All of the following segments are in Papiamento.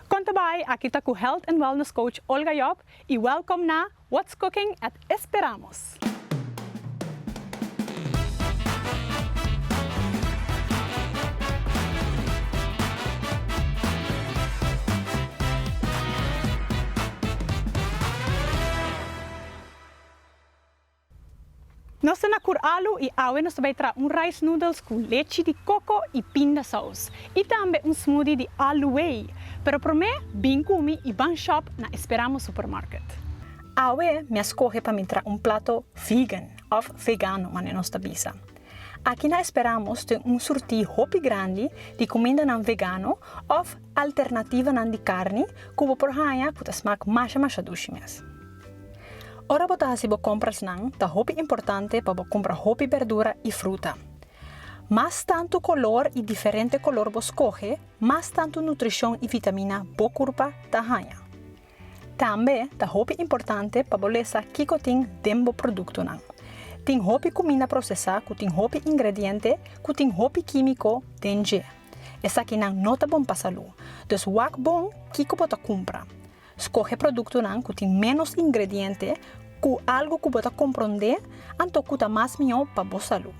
Kon ta bai? Aki ta ku Health and Wellness Coach Olga Job y welcome na What's Cooking at Esperamos! Nos ta na Kur'alu i awe nos ta bai traha un rice noodles ku lechi di koko i pindasaus i tambe un smoothie di aluei. Pero promé bin kumi i ban shòp na Esperamo Supermarket. Awe mi a skohe pa mi traha un plato vegan òf vegano manera nos ta bisa. Aki na Esperamos ten un surtí hopi grandi di kumindanan vegano òf alternativanan di karni ku bo por haña ku ta smak masha masha dushi mes. Ora bo ta hasi bo komprasnan, ta hopi importante pa bo kumpra hopi bèrdura i fruta. Mas tantu kolor i diferente kolor bo skohe, mas tantu nutrishon i vitamina bo kurpa ta haña. Tambe ta hopi importante pa bo lesa kiko tin den bo produktonan. Tin hopi kuminda prosesá ku tin hopi ingrediente ku tin hopi kímiko den dje. Esakinan no ta bon pa salú. Dus wak bon kiko bo ta kumpra. Skohe produktonan ku tin ménos ingrediente ku algu ku bo ta komprondé anto ku ta mas mihó pa bo salú.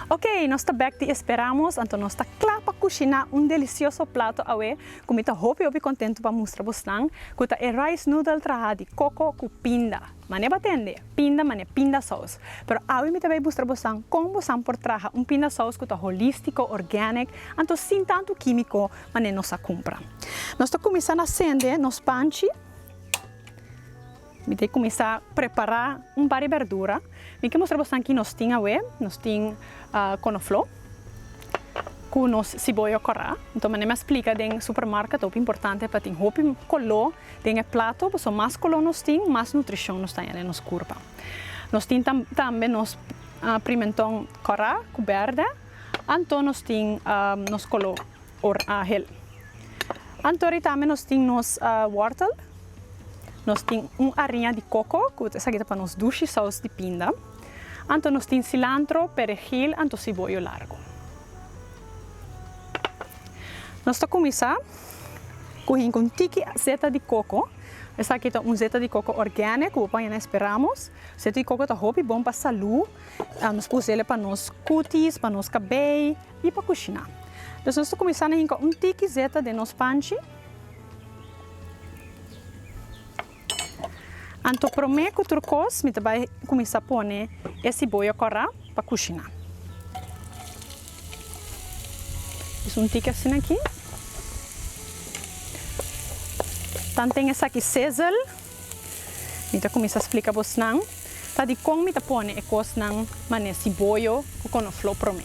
Ok, nos ta bèk di e speramos, anto nos ta kla pa kushiná un delisioso plato awe ku mi ta hopi hopi kontentu pa mustra bosnan, ku ta e rice noodle trahá di koko ku pinda. Manera bo a tende, pinda manera pinda sous. Pero awe mi ta bai mustra bosnan kon bosan por traha un pinda sous ku ta holístiko, organic, anto sin tantu kímiko mané nos a cumpra. Nos ta cuminsa na sende nos panchi. Mi ta cuminsa prepara un bari berdura. Mi ke mustra boso anki nos tin awe. Nos tin konoflo cu nos siboyo cora. Enton mané mi a splica den supermarket ta hopi importante pa tin hopi colo den e plato. Boso mas colo nos tin mas nutricion nos ta haña den nos curpa. Nos tin tambe nos pimenton cora cu berde. Anto nos tin nos kolo or ahel. Anto ri tambe nos tin nos wòrtel. Nos tin un ariña di koko ku esaki ta pa nos dushi sous di pinda. Anto nos tin silantro, peregil, anto siboyo largu. Nos ta kuminsá ku hinka un tiki zeta di koko. Esaki ta un zeta di koko organe ku bo paña na e speramos. Zeta di koko ta hopi bon pa salú. Nos ta usa el pa nos kutis, pa nos kabei i pa kushiná. Entonces nos ta kuminsá na hinka un tiki zeta den nos panchi. Anto promé ku tur kos mi ta bai kuminsá pone e siboya kòrá pa kushiná. Pues un tiki asina aki. Tamten esaki sezel. Mi ta kuminsá splika bosnan ta dikon mi ta pone e kosnan manera siboyo ku konofló promé.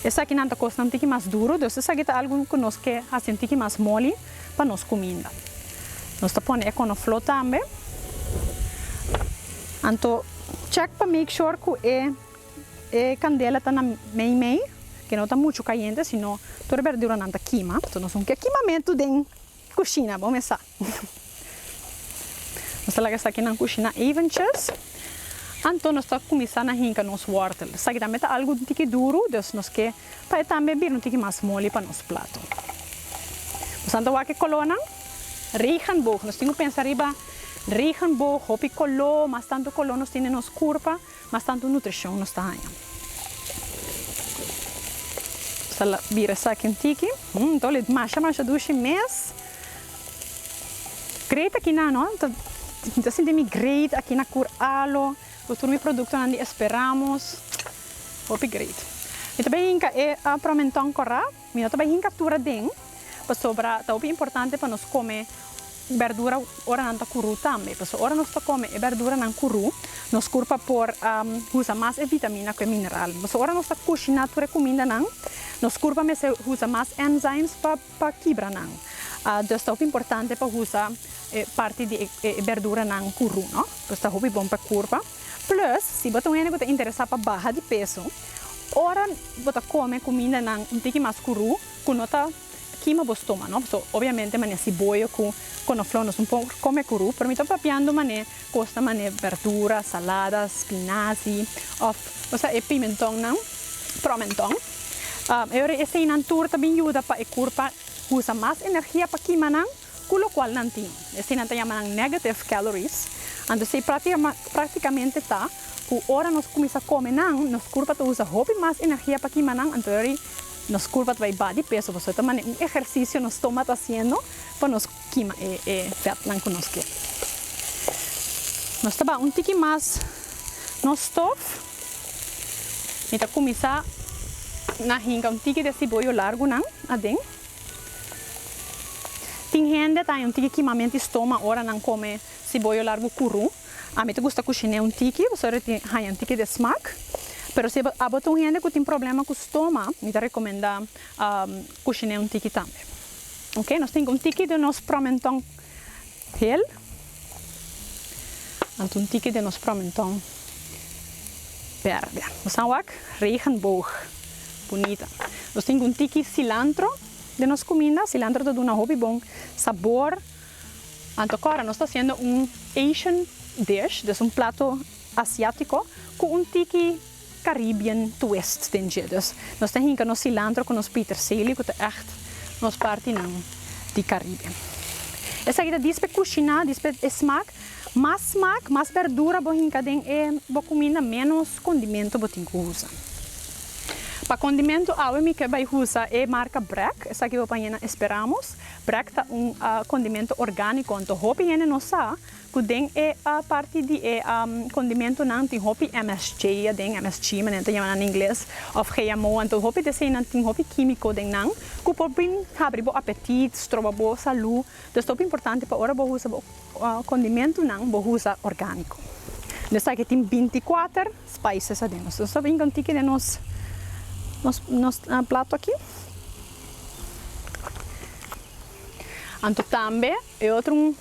Esakinan ta kosnan tiki mas duru, dus esaki ta algu ku nos ke hasen tiki mas moli pa nos kuminda. Nos ta pone e konofló tambe. Anto chèk pa make sure ku e e kandela ta na mei mei, ke no ta muchu kayente, sino tur e berduranan ta kima. Nos no ke kimamentu den kushina, bo mester sa. Nos ta laga esaki nan kushina eventjes. Anto nos ta kuminsá na hinka nos wòrtel. Esaki tambe ta algu un tiki duru, dus nos ke pa e tambe bira un tiki mas moli pa nos plato. Nos anto wak e kolónan regenboog. Nos tin ku pensa riba regenboog, hopi koló, mas tantu koló nos tin den nos kurpa. Mas tantu nutricion nos ta haña. Nos ta bira esaki un tiki. Hum, ta oler masha masha dushi mes. Great aki nan no. Mi ta sinti mi great aki na Cur Alo. Cu tur mi productonan di Esperamos. Hopi great. Mi ta bin hinca e Promenton Corra. Mi no ta bai hinka tur aden, pasobra ta hopi importante pa nos kome bèrdura ora nan ta kurú tambe. Pasobra ora nos ta kome e bèrduranan kurú, nos kurp a por usa mas e vitamina ku e mineral. Pasobra ora nos ta kushiná tur e kumindanan, nos kurp a mester usa mas enzymes pa kibra nan. Dus ta hopi importante pa usa e parti di e bèrduranan kurú, no? Pues ta hopi bon pa e kurpa. Plus, si bo ta un hende ku ta interesá pa baha di peso, Ora bo ta kome kumindanan un tiki mas kurú, ku no ta kima bo stómano, pasobra obiamente manera siboyo ku konofló nos por kome kurú, pero mi ta papiando manera kosnan manera bèrdura, salada, spinazi òf bo sa e pimentònnan, promentòn. E ora eseinan tur ta bin yuda pa e kurpa usa mas energia pa kima nan. Cu locual nan tin, esey nan ta yama nan negative calories, anto esey practicamente ta cu ora nos cuminsa come nan, nos curpa ta usa hopi mas energia pa kima nan, anto esey nos curpa ta bay ba di peso, pasobra ta mane un ehercicio nos stoma ta haciendo pa nos kima e vetnan cu nos kier. Nos ta bay un tiki mas nos stof, mi ta cuminsa na hinca un tiki di e ciboyo largunan aden. Tin hende ta haña un tiki kimamenti stoma ora nan kome siboyo largu kurú. Ami ta gusta kushiné un tiki pasobra e tin haña un tiki de smak. Pero si abo ta un hende ku tin problema ku stoma, mi ta rekomendá kushiné un tiki tambe. Oke, nos tin un tiki di nos promenton Hel. Anto un tiki den nos promenton berde. Nos a wak regenboog. Bunita. Nos tin un tiki cilantro den nos cuminda. Cilantro ta duna hopi bon sabor. Anto cora nos ta haciendo un Asian dish. Des un plato asiatico cu un tiki. Caribbean twist den dje. Dus nos ta hinka nos cilantro cu nos pieterseli cu ta echt nos partinan di Caribe. Esaki ta dispe cushina, dispe e smaak. Mas smaak, mas berdura bo hinka den e bo cuminda menos condimento bo tin cu usa. Pa condimento awe mi ke bay usa e marca Brac, esaki bo pañe na Esperamos. Brac ta un condimento organico anto hopi hende no sa. Ku den e parti di e kondimentunan tin hopi msg aden, msg manera nan ta yamanan na ingles, òf GMO, anto hopi des einan tin hopi kímiko den nan ku por bin habri bo apetit, stroba bo salú. Dus ta hopi importante pa ora bo usa bo kondimentunan bo usa orgániko. No esaki tin binti kuater spices aden. Nos ta stap hinka un tiki den nos nos plato aki. Anto tambe e otro un.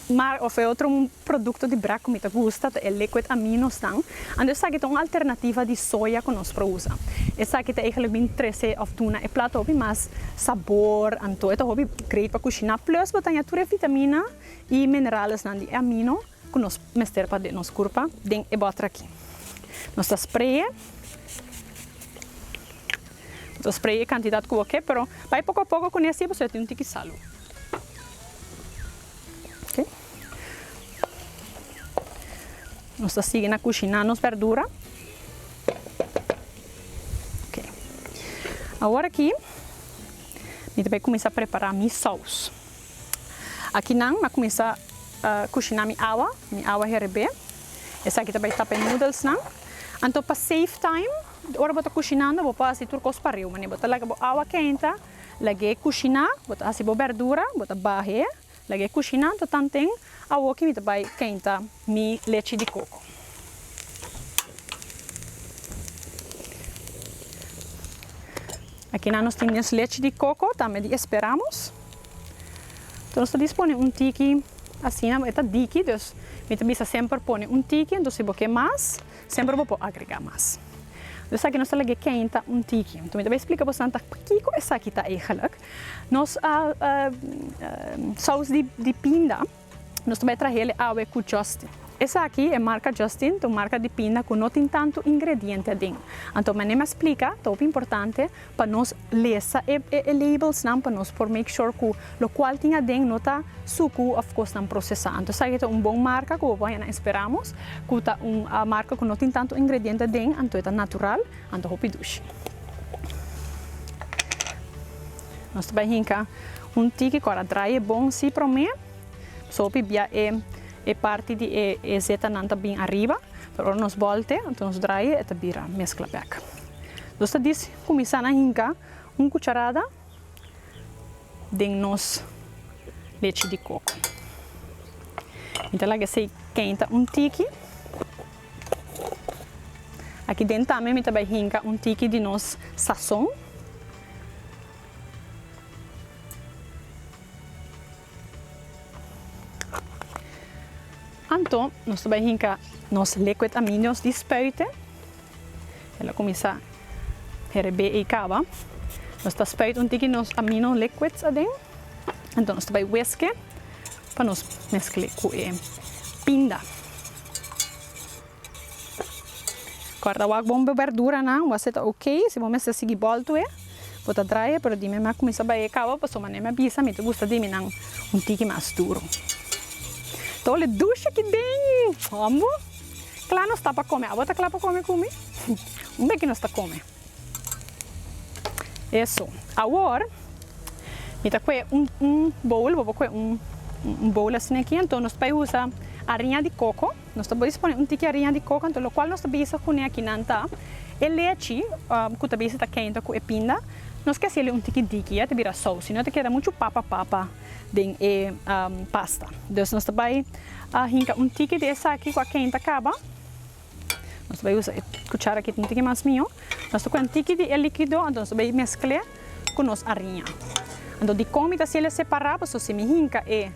Mar of e otro un produkto di brak ku mi ta gusta ta e liquid aminosnan, anto esaki ta un alternativa di soya ku nos por usa. Esaki ta eigenlik bin trese of duna e plat hopi mas sabor, anto e ta hopi great pa kushiná plus bo ta aña tur e vitamina i mineralesnan di e amino ku nos mester pa nos kurpa den e bòter aki. Nos ta spray e, bo ta spray e kantidat ku bo ke pero bai poko a poko kuné así pasobra tin un tiki salu. Nos ta sigui na kushina nos berdura, awor aki mi ta bai kuminsá prepara mi sous, aki nan mi a kuminsá kushina mi awa, mi awa herbé, esaki ta bai tapa e noodlesnan, anto pa save time ora bo ta kushinando bo por hasi tur kos pariu, bo ta laga bo awa kenta. Lag'é kushiná, bo ta hasi bo bèrdura, bo ta bah'é, lag'é kushiná, anto tanten awoki mi ta bai kenta mi lechi di koko. Akinan nos tin nos lechi di koko, tambe di esperamos. Anto nos ta dispone un tiki, asina bo e ta diki, dus mi ta bisa semper pone un tiki, anto si bo ke mas. Semper bo por agregá mas. Lo esaki nos ta lagu'é kèn ta un tiki. Anto mi ta bai splika bo esnan ta pakiko esaki ta egelik. Nos sous di pinda nos ta bai trahel e awe ku Justin. Esaki e marka Justin ta un marka di pinda ku no tin tantu ingrediente aden. Anto manera mi a splika ta hopi importante Pa nos lesa e e labels nan pa nos por make sure cu lo cual tin aden no ta sucu of cosnan procesa. Anto esaki ta un bon marca cu bo por haya nan esperamos cu ta un marca cu no tin tanto ingrediente aden anto e ta natural anto hopi dushi. Nos ta bai hinca un tiki cu a draye bon si prome so hopi bia e e parti di e e zeta nan ta bin ariba pero ora nos bolte anto nos draye e ta bira mezcla bek. Nos ta diz kuminsá na hinka un kucharada den nos lechi di koko. Mi ta laga esei kenta un tiki. Aki den tambe mi ta bai hinka un tiki di nos sason. Anto nos ta bai hinka nos liquid aminos di spuiten. El a kuminsá herebé ei kaba. Nos ta spuit un tiki nos amino liquids aden. Anto nos ta bai wiske pa nos mesk'é ku e pinda. Corta wak bon bo berduranan wak seta ok si bo mester sigui boltoe bo ta draai pero dime mi a cuminsa baie cabo paso manera mi a bisa mi ta gusta di mi nan un tiki mas duro ta ole dushi aki den hombo cla nos ta pa come abo ta cla pa come cu mi? un beki nos ta come. Eso. Awor mi ta koe un un bowl, bo por koe un un bowl asina aki, anto nos bai usa ariña di koko, nos ta bies pone un tiki ariña di koko, anto lokual nos ta bisa ku neakinan ta e lechi ku ta bisa ta kenta ku e pinda, nos ke hasieli un tiki diki ya ta bira sous, si no ta keda muchu papa papa den e pasta. Dus nos ta bai hinka un tiki di esaki ku a kenta kaba. Nos ta bai usa e cuchara aki tin tin mas mijo. Nos ta coge un tiki di e liquido anto nos ta bai mescle cu nos ariña. Anto dicon mi ta haci el'e separa paso si mi hinca e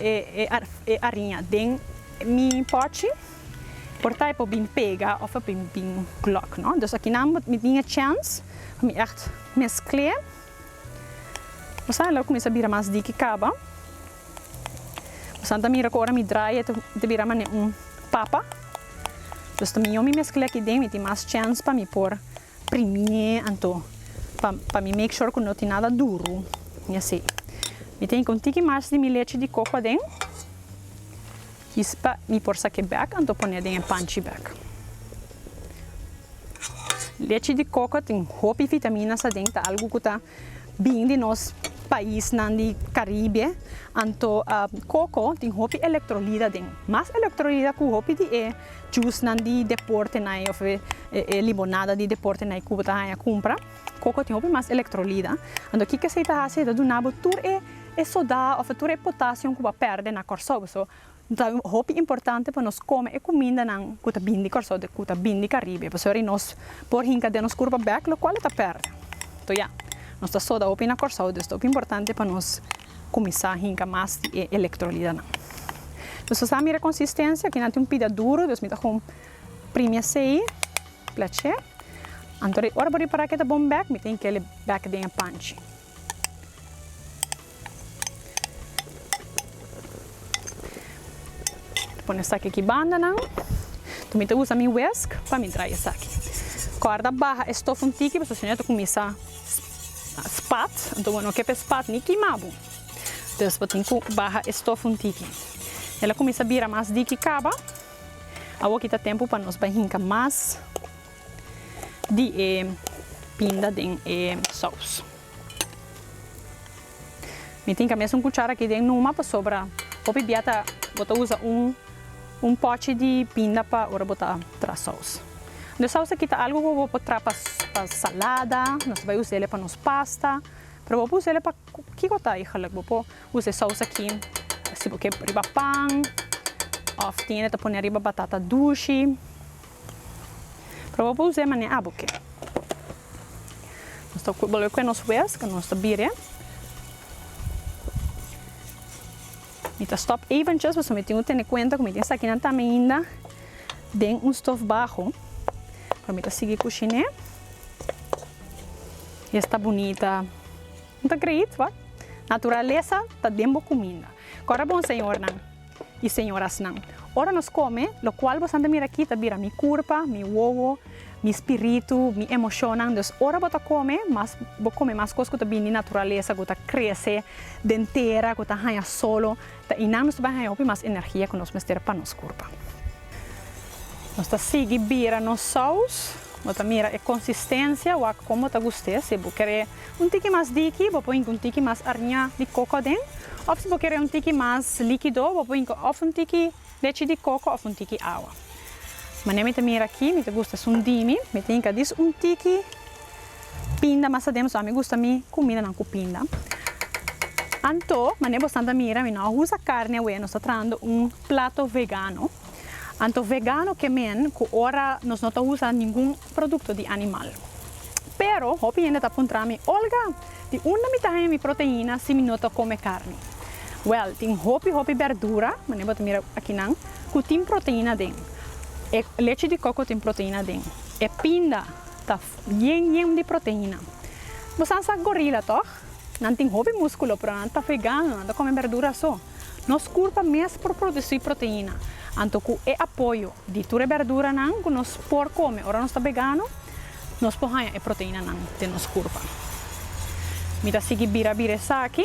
e ariña den mi pochi por ta e por bin pega of a por bin glock no. Dus akinan mi tin e chance pa mi echt mescle. Bo sa lo cuminsa bira mas diki caba. Mosan ta mira ku ora mi drai e ta bira manera un papa. Dus ta mihó mi mesk'l'e aki den, mi tin mas chèns pa mi por primi'é anto pa mi make sure ku no tin nada duru ni así. Mi ta hinka un tiki mas di mi lechi di koko aden, kies pa mi por sak'é bèk anto pon'é den e panchi bèk. Lechi di koko tin hopi vitaminas aden, ta algu ku ta Bin di nos paisnan di Caribe, anto coco tin hopi electrolida den, mas electrolida cu hopi di e juicenan di deportenan of e limonada di deportenan e Cuba ta haya cumpra. Coco tin hopi mas electrolida. Anto kico esey ta haci? Esey ta duna bo tur e soda of tur e potassium cu bo a perde na Corsou. Ta hopi importante pa nos kome e kumindanan ku ta bini di Kòrsou den ku ta bini di Karibe pasobra di nos por hinka den nos kurpa bèk lokual e ta pèrdè. Toh ya, nos ta soda hopi na Kòrsou dus ta hopi importante pa nos kuminsá hinka mas di e elektrolitanan. Nos ta sa mira konsistensia, kinan tin un pida duru dus mi ta kon primi esei, plach'é. Anto di ora bo ripará ku e ta bon bèk mi ta hinka el bèk den e panchi. Pone esaki aki banda nan. Mi ta usa mi wesk pa mi drai esaki. Corda baha e stof un tiki pasobra si no e ta cuminsa spat. Enton bo no ke pa e spat ni kima bo. Entonces bo tin cu baha e stof un tiki. El a cuminsa bira mas diki caba. Awor aki ta tempo pa nos bai hinca mas. di e pinda den e sous. Mi tin kames un kuchara aki den numa pasobra hopi bia ta bo ta usa un un pochi di pinda pa ora bo ta tra sous. E sous aki ta algu ku bo por tra pa pa salada, nos bai us'e pa nos pasta, pero bo por us'e pa kiko ta e geluk. Bo por usa e sous aki si bo ke riba pan of tin e ta pone riba batata dushi. Pero bo por us'é manera abo ke. Nos ta bolbe kue nos hues ke nos ta bire. Mi ta stòp eventjes pasobra mi tin ku tene kuenta ku mi tin esakinan ta ainda den un stof baho. Pero mi ta sigui kushiné. I esta bunita. No ta kreiit, wak? Naturalesa ta den bo kuminda. Ku a rabon señornan? i señorasnan. Ora nos kome, lokual bosan ta mira akí ta bira mi kurpa, mi wowo, mi spiritu, mi emoshonnan. Dus ora bo ta kome, mas bo kome mas kos ku ta bini di naturalesa, ku ta krese den tera, ku ta haña solo, ta einan nos ta bai haña hopi mas energia ku nos mester pa nos kurpa. Nos ta sigui bira nos saus. Bo ta mira e konsistensia wak kon bo ta gust'é. Si bo kere. Un tiki mas diki, bo por hinca un tiki mas ariña di coco aden, of si bo kere un tiki mas likido, bo por hinca of un tiki lechi di coco of un tiki awa. Manera mi ta mira aki, mi ta gusta sundimi, mi ta hinca dis un tiki pinda mas aden, pasobra ami gusta mi cumidanan cu pinda. Anto, manera bosnan ta mira, mi no a usa carni awe, nos ta trahando un plato vegano. Anto vegano ke men cu ora nos no ta usa ningun. producto di animal. Pero hopi hende ta puntra mi, Olga, di unda mi ta haña mi proteina si mi no ta come carni? Well, tin hopi hopi berdura, manera bo ta mira akinan, cu tin proteina den. E leche di coco tin proteina den. E pinda ta bien yen di proteina. Bo san sa gorila, toch? Nan tin hopi musculo pero nan ta vegano, nan ta come berdura so. Nos curpa mes por produci proteina, anto cu e apoyo di tur e berduranan cu nos por come ora nos ta vegano, nos por haya e proteinanan den nos curpa. Mi ta sigui bira bira esaki,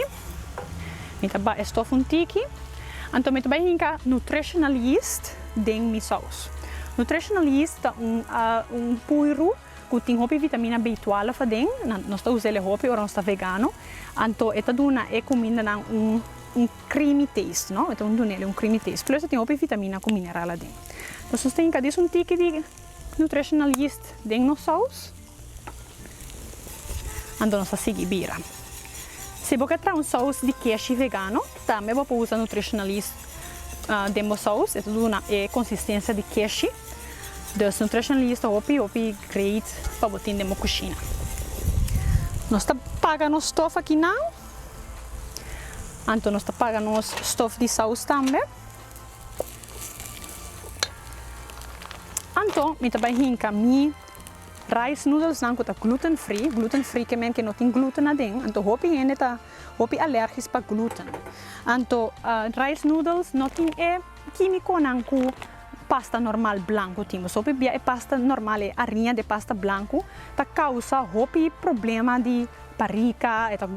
mi ta ba e stof un tiki, anto mi ta bai hinca nutritional yeast den mi saus. Nutritional yeast ta un puyru. Ku tin hopi vitamina B-twèlf aden. Nos ta usa el e hopi ora nos ta vegano. Anto e ta duna e kumindanan un creamy taste, no. E ta duna el un creamy taste. Plus e tin hopi vitamina ku mineral aden. Nos ta stinka dies un tiki di nutritional yeast den nos sous. Anto nos ta sigui bira. Si bo ke traha un sous di keshi vegano tambe bo por usa nutritional yeast. Den Bossowes e ta duna e konsistensia di keshi, dus nutrition lees ta hopi hopi great pa bo tin den bo kushina. Nos ta paga nos stof aki nan, anto nos ta paga nos stof di sous tambe. Anto mi ta bai hinka mi rice noodles nan ku ta gluten free, gluten free ke men ke no tin gluten aden, anto hopi hende ta. hopi alergis pa gluten. Anto rice noodles no tin e kimiconan cu pasta normal blanco tin boso hopi bia e pasta normal e ariña de pasta blanco ta causa hopi problema di barica e ta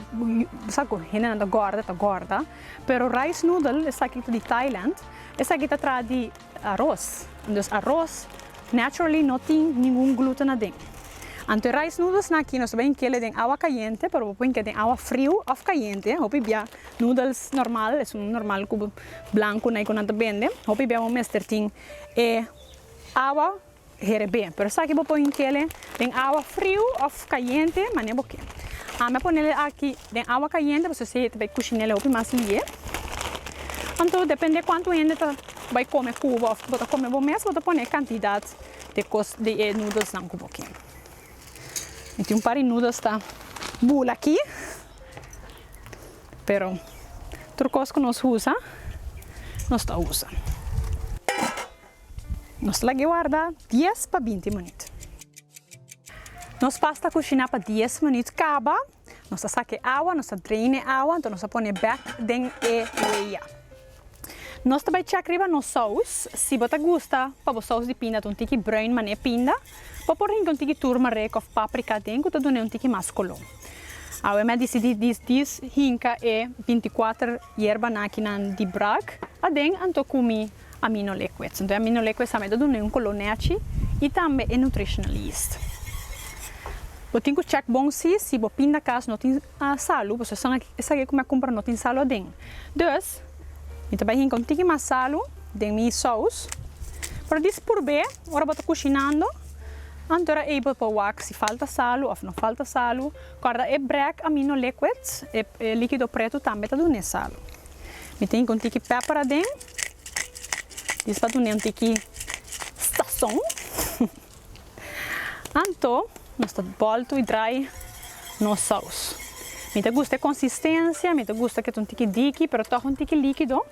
sa cu hendenan ta gorda e ta gorda pero rice noodle esaki ta di Thailand esaki ta traha di Aros. Anto aros naturally no tin ningun gluten aden. Anto e rice noodles nan aki nos ta bin kele den awa kayente pero bo por hinke den awa friu of kayente. Hopi bia noodles normal, esun normal ku blanku na ei ku nan ta bende, hopi bia bo mester tin e awa. Herebe, pero esaki bo pon kele den awa friu of kayente manera bo kier. Ami a ponele aki den awa kayente pasobra esei ta bay kushinele hopi mas lie. Anto depende kuantu hende ta bay kome ku bo of bo ta kome bo mes bo ta pone e kantidat de kos di e nudelsnan ku bo kier. Mi tin un par di nudels ta bul aki pero tur kos ku nos usa nos ta usa. Nos lag'e warda dies pa binti munit. Nos pasta kushiná pa dies munit kaba, nos ta sak'e awa, nos ta drain e awa, anto nos ta pone bèk den e weya. Nos ta bai chèk riba nos sous, si bo ta gusta pa bo sous di pinda ta un tiki brùin man'e pinda, bo por hinka un tiki turmeric òf paprika den ku ta dun'e un tiki mas koló. Awe mi a disidí di hinka e binti kuater yerbanan akinan di brak aden, anto kumi. Ami no le kwets. Enton ami no le kwets tambe ta duna un kolo nèchi i tambe e nutritionalist. Bo tin ku chèk bon si si bo pindakas no tin salu pasobra esun aki esaki ku mi a kumpra no tin salu aden. Dus mi ta bai hinka un tiki mas salu den mi sous pero di purb'é ora bo ta kushinando anto era ei bo por wak si falta salu òf no falta salu. Kòrda e brèk ami no le kwets e likido pretu tambe ta duna e salu. Mi ta hinka un tiki pèper aden. Dios pa dun'é un tiki stasón. Anto nos ta bòltu i drai nos sous. Mi ta gusta e konsistensia, mi ta gusta ku ta un tiki diki pero tòg un tiki líkido.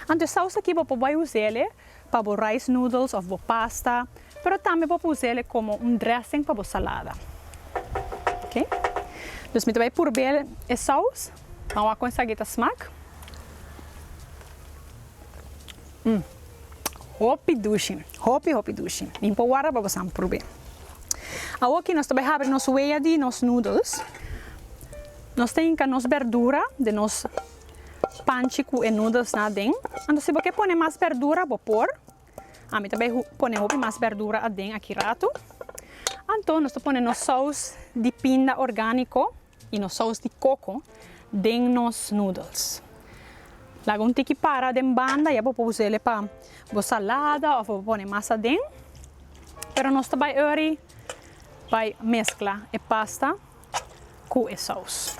Anto e sous aki bo por bai us'el pa bo rice noodles òf bo pasta, pero tambe bo por us'el komo un drèsing pa bo salada. Oké, dus mi ta bai purbe'l e sous. Nan wak cu esaki ta smak? Umm. Hopi dushi. Hopi hopi dushi. Min por warda pa bosan probe. Awo aki nos ta bai habri nos wea di nos noodles. Nos ta hinca nos berdura den nos panchi cu e noodles nan aden. Anto si bo ke pone mas berdura bo por. Ami ta bai pone hopi mas berdura aden aki rato. Anto nos ta pone nos saus di pinda organico. Y nos saus di coco den nos noodles. Laga un tiki para den banda ya bo por usele pa bo salada of bo pone mas aden. Pero nos ta bay early bay mezcla e pasta cu e saus.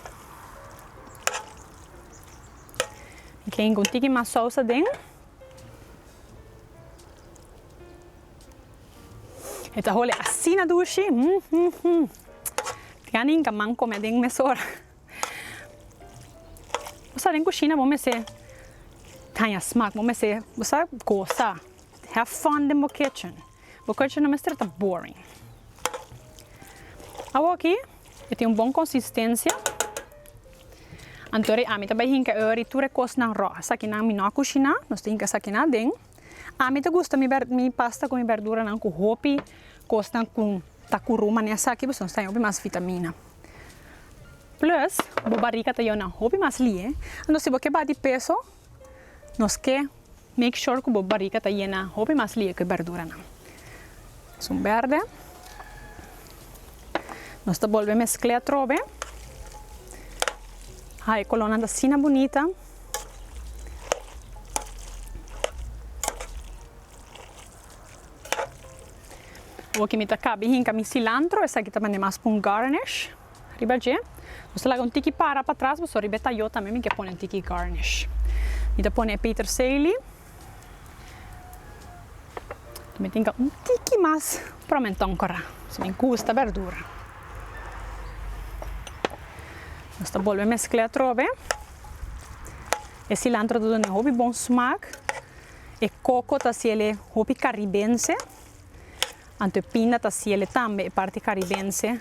Mi ke hinca un tiki mas saus aden. E ta hole asina dushi hum hum hum tin anin ka man come den mesora bo sa den cushina bo mester haña smaak bo mester bo sa goza have fun den bo kitchen bo kitchen no mester ta boring awor aki e tin un bon consistencia anto ri ami ta bay hinca e ora tur e cosnan ro esaki nan mi no a cushina nos ta hinca esaki nan aden. Ami ta gusta mi berd mi pasta cu mi berduranan cu hopi cosnan cu ta curu mane esaki pues nos ta den hopi mas vitamina plus bo bariga ta yona hopi mas lie entonces si bo ke bati peso nos ke make sure cu bo bariga ta yena hopi mas lie cu e berduranan asun berde nos ta bolbe mescla atrobe ha e colornan ta asina bunita. Awor ke mi ta kabe hinka mi cilantro esaki ta mane mas pa un garnish riba dje. Nos ta laga un tiki para patras pasobra riba e tayo tambe mi ke pone un tiki garnish. Mi ta pone e petersely mi tin ke un tiki mas promenton kora pasobra mi gusta berdura. Nos ta bolbe meskle atrobe. E cilantro ta dun'e hopi bon smaak. E coco ta hacele hopi caribense. Anto e pinda ta hacele tambe e parti caribense.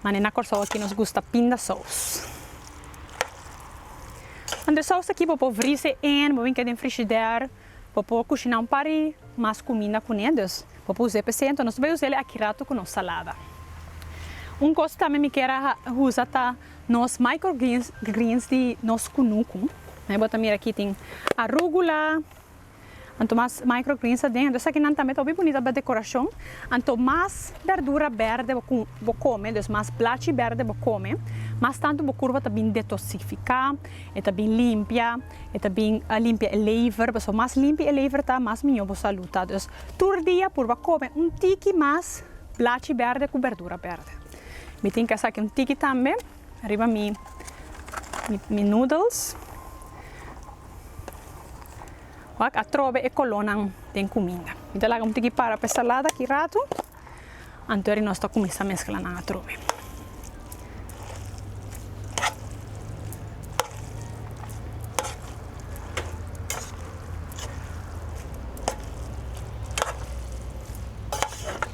Ma ne na Corsou aki nos gusta pinda saus. Anto e saus aki bo por vrise en, bo binke den frishider. Bo por cushina un par di mas cuminda cu ne. Dus bo por us'e p'esei. Anto nos ta bay us'e aki rato cu nos salada. Un cos cu tambe mi kier a usa ta. Nos microgreens di nos kunuku. Ahí bo ta mira aki tin arugula. Anto mas microgreens aden anto esaki nan tambe ta hopi bunita pa decoracion. Anto mas berdura berde bo come, dus mas blachi berde bo come, mas tantu bo kurpa ta bin detoxifica, e ta bin limpia, e ta bin limpia e lever, pasobra mas limpi e lever ta, mas miño bo salud ta. Dus tur dia purba come un tiki mas blachi berde ku berdura berde. Mi tin ke saki un tiki tambe riba mi mi noodles. Wak atrobe e kolonan den kuminda. Mi ta laga un tiki para pa e salada aki ratu. Antoeri nos ta kuminsá meskla nan atrobe.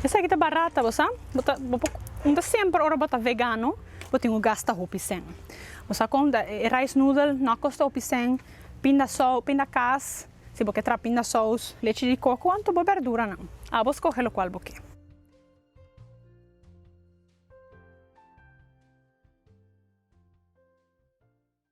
Esaki ta barat ta bo sa. Bo ta bo por unta semper ora bo ta vegano bo tin ku gasta hopi sèn. Bo sa kon ta e rice noodle no a kosta hopi sèn, pinda sous, pinda kas, si bo ke traha pinda sous, lechi di koko anto bo bèrduranan. A bo skohe lokual bo ke.